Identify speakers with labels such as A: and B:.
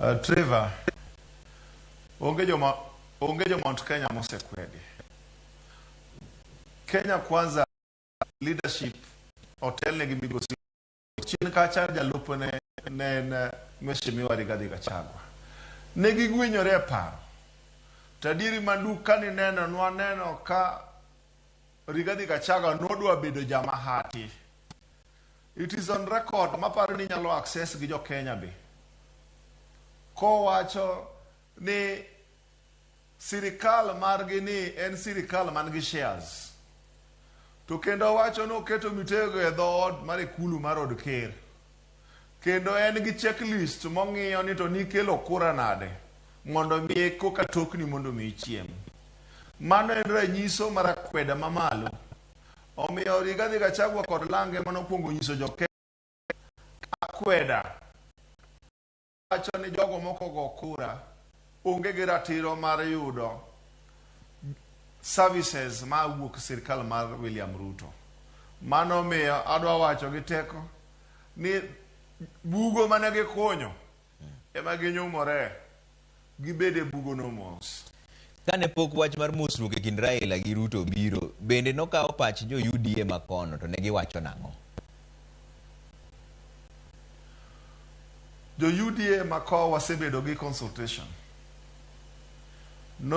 A: Uh, Trevor, onge joma onge jo Mount Kenya mosekwedi. Kenya Kwanza leadership hotel ne gimigosi chien kacha jalup ne ne en Mheshimiwa Rigathi Gachagua. Ne gigwinyore e paro. Tadiri mandu kani neno nwa neno ka Rigathi Gachagua nodwa bedo jama hati. It is on record maparo ni inyalo access gi jo Kenya be kowacho ni sirikal margi ni en sirikal man gi shares to kendo wacho ni oketo mitego e dhood mar ikulu mar od ker kendo en gi checklist mong'iyo ni to nikelo kura nade mondo mi koka tokni mondo mi ichiem mano en ranyiso mar akweda mamalo Omiyo Rigathi Gachagua kod Lang ema nokwongo nyiso jo akweda wacho ni jogo moko go kura onge gi ratiro mar yudo services ma wuok sirkal mar William Ruto. Mano miyo adwa wacho gi teko ni bugo mane gikunyo Ema ginyumore gibed e bugono mos. Kane pok
B: wach mar mosruok e kind Raila gi Ruto obiro, bende nokawo pach jo UDA ma kono to ne giwacho nang'o?
A: Jo UDA ma kono wasebedo gi consultation. No